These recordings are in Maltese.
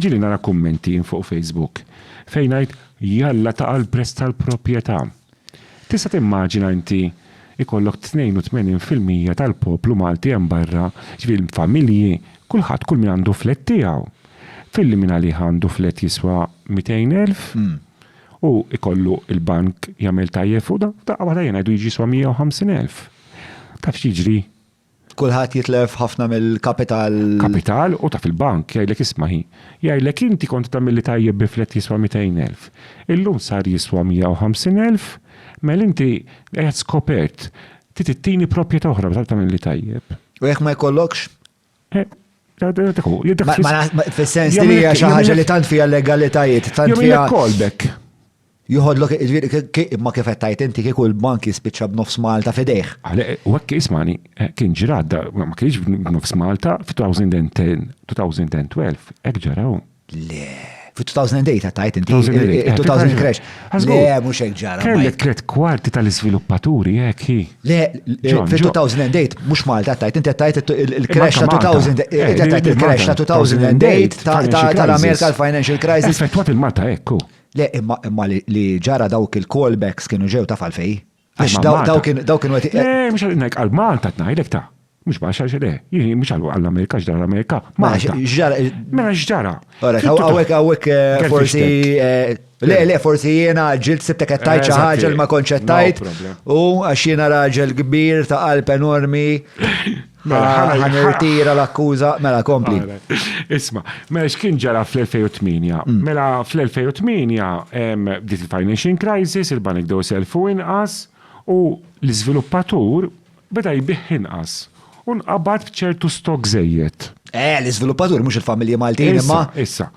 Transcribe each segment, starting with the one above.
Ġieli nara kummenti fuq Facebook fejn ngħid jalla ta' għall-prezz tal-proprjetà. Tista' timmaġina inti jkollok 82 fil-mija tal-poplu Malti hemm barra, jiġifieri l-familji, kulħadd kull min għandu flett tiegħu. Filli min għalih għandu flett jiswa 200 elf, hu jkollu l-bank jagħmel tajjeb fuq dan, f'daqqa waħda jien ngħidu jiġi jiswa 150 elf. Taf x'jiġri? Kulħadd jitlef ħafna mill-kapital. Kapital u taf il-bank jgħidlek isma' hi. Jgħidlek inti kont tagħmilli tajjeb bi flat jiswa' mitejn elf. Illum sar jiswa' mija u ħamsin elf, mela inti qiegħed skopert. Trid ittini proprjetà oħra meta tagħmilli tajjeb. U jekk ma jkollokx? Dak hu. Fis-sens li hija xi ħaġa li tant fiha legalitajiet, tant fiha. Jagħmilek callback. Joħodlok, jiġifieri imma kif qed tgħid inti kieku l-bank jispiċċa b'nofs Malta f'idejh. U hekk ismani, kien ġrad, ma kienx b'nofs Malta f'2010, 2012, hekk ġaraw. Le, f'2008 qed tgħid inti. 2000 crash. Le, mhux hekk ġara. Kellek tliet kwarti tal-iżviluppaturi hekk hi. Le, f'2008 mhux Malta qed tgħid inti qed tgħid il-crash ta' 2000, qed tgħid il-crash ta' 2008 tal-Amerika l-financial crisis. Effettwat il-Malta hekk hu. Le, imma li ġara dawk il-callbacks kienu ġew taf għalfej. Għax daw kienu għet. Le, mux għal-nek, għal-Malta t-najdek ta' mux bax għax le, jini mux għall-Amerika, xġara l-Amerika. Malta. Xġara. Mela xġara. Għawek, għawek, eh, forsi. Eh, le, le, forsi jena ġilt sibtek għettajt ċaħġa ma konċettajt. U għax jena raġel kbir ta' qalb enormi. Mela, ħana ħana irtira l-akkuża, mela kompli. Isma, mela x'kien ġara fl-2008? Mm. Mela fl-2008 bdiet il-financing crisis, il-banek dew selfu inqas u l-iżviluppatur beda jbih inqas u nqabad b'ċertu stok żejjed. Eh, l-iżviluppatur mhux il-familji Maltin imma. Issa,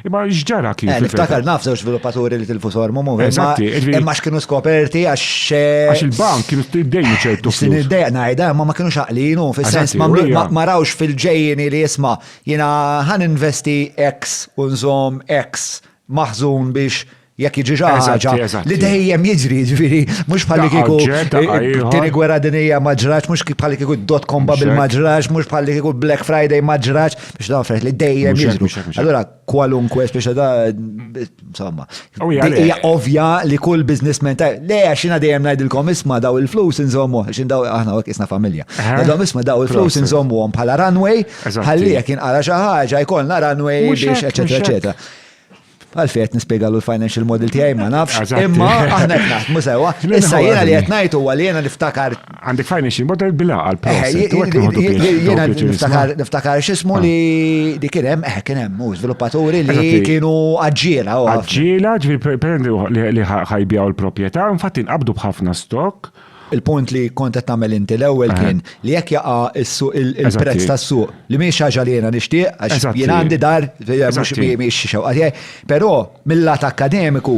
Imma x'ġara kif? Eh, niftakar naf żewġ sviluppaturi li tilfu sormu mu. Eżatti. Imma x'kienu skoperti għax. Eh, għax il-bank kienu dejjem ċertu. Sin id-dejja ngħidha, imma ma kienu xaqlinu fis-sens ma rawx fil-ġejjini li jisma' jiena ħan investi X u nżomm X maħżun biex Jekk jiġi xi ħaġa li dejjem jiġri, jiġifieri mhux bħalli kieku tieni gwerra dinija ma ġrax, mhux bħalli kieku dot com bubble ma ġrax, mhux bħalli kieku Black Friday ma ġrax, biex dawn affarijiet li dejjem jiġru. Allura kwalunkwe speċa da insomma. Hija ovvja li kull businessman ta' le għax jiena dejjem ngħidilkom isma' daw il-flus inżommu, għax daw aħna hekk isna familja. Daw isma' daw il-flus inżommuhom bħala runway, ħalli jekk inqara xi ħaġa jkollna runway biex eċetera eċetera. Għalfej qed nispjegalu l-financial model tiegħi ma nafx. Imma aħna qed naħdmu sewwa. Issa jiena li qed ngħid huwa li jiena niftakar. Għandek financial model bila għal Jiena niftakar niftakar x'ismu ah. li li kien hemm eh kien hemm u żviluppaturi li kienu aġġiela u. Aġġiela ġifieri li ħajbjaw il-proprjetà, infatti nqabdu b'ħafna stock. Il-punt li kont qed tagħmel inti l-ewwel eh. kien li jekk jaqa' il-prezz tas-suq li mhix ħaġa li jiena nixtieq għax jien għandi dar eh, mhux mhix xewqa tiegħi. Però mill-lat akkademiku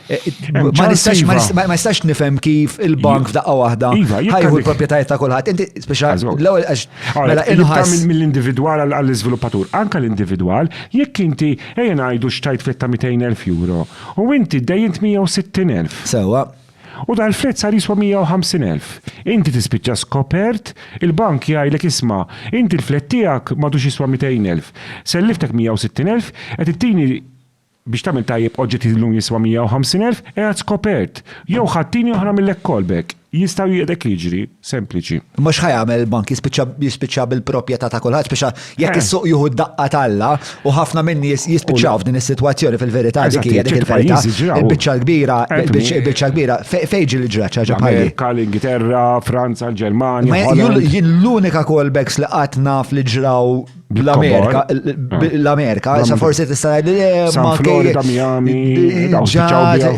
eh, ma nistax ma iva. nistax nifhem kif il-bank f'daqqa waħda iva, ħajħu l-proprjetajiet ta' kulħadd. Inti speċa l-ewwel għax mela inħass mill-individwal għall-iżviluppatur, anke l-individwal, jekk inti ejja ngħidu xtajt fitta 200,000 euro u inti dejjint 160,000. Sewwa. U dal-flat sar jiswa 150 elf. Inti tispiċċa skopert, il-bank jgħidlek isma', inti l-flat tiegħek m'għadux jiswa 200 elf. Selliftek 160 elf, qed ittini biex tagħmel tajjeb oġġett li llum jiswa 150 elf, qiegħed skopert. Jew ħadd tieni oħra mill-ekkolbek. Jista' u qiegħdek jiġri. sempliċi. Imma x'ħa jagħmel il-bank jispiċċa bil-proprjetà ta' kulħadd biex jekk eh. is-suq jieħu d-daqqa talla u ħafna minn nies jispiċċaw f'din is-sitwazzjoni fil-verità dik hija dik il-verità. Il-biċċa l-kbira, eh, il-biċċa l-kbira fejġi li ġrat ċaġa bħalli. Kal Ingilterra, Franza, l-Ġermanja. L-unika callbacks li qatt naf li ġraw L-Amerika, l-Amerika, sa forsi tista' li eh, ma Florida, Miami,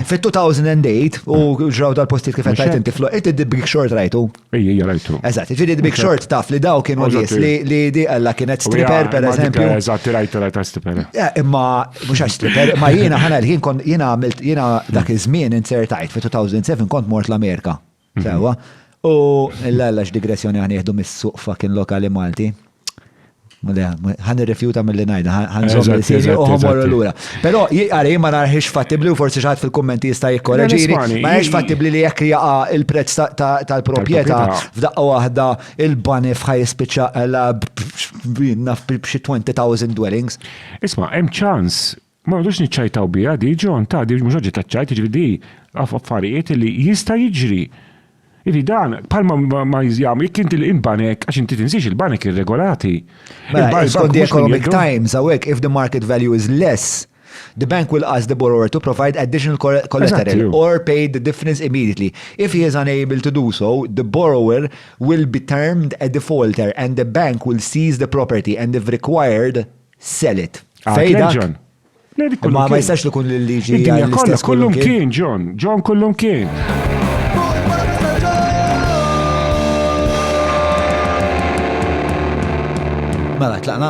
fit-2008 u ġraw dal-postijiet kif qed inti fl inti the big short rajtu. Ejja, rajtu. Eżatt, ġifieri the big short taf li daw kienu nies li di alla kienet stripper pereżempju. Eżatt, rajtu rajta stripper. Eh, imma mhux għax stripper, ma jiena ħana l-ħin kont jiena għamilt jiena dak iż-żmien insertajt fit-2007 kont mort l-Amerika. Sewa. U l-għallax digressjoni għan jihdu mis-suq fucking lokali Malti. Għan irrifjuta mill-li najda, għan zombi s-sini u għamorru l-ura. Pero, għara, jimma narħiġ fattibli u forsi xaħat fil-kommenti jista jikkoreġini, ma jiex fattibli li jekk jaqa il-prezz tal-propieta f'daqqa wahda il-bani fħaj spiċa għala b'xi 20,000 dwellings. Isma, hemm ċans Ma noqogħdux niċċajtaw biha di, John, ta' di mhux oġġett taċ-ċajt, jiġifieri di affarijiet li jista' jiġri. Jiġifieri dan bħalma ma jagħmel jekk inti l-banek, għax inti tinsiex il-banek irregolati. Mela, skont The Economic Times hawnhekk, if the market value is less, the bank will ask the borrower to provide additional collateral or pay the difference immediately. If he is unable to do so, the borrower will be termed a defaulter and the bank will seize the property and if required, Sell it. Fej dak? John. Ma ma jistax li kun l-liġi. Id-dinja kollha kullum kien, John. John kullum kien. Mela, tlaqna?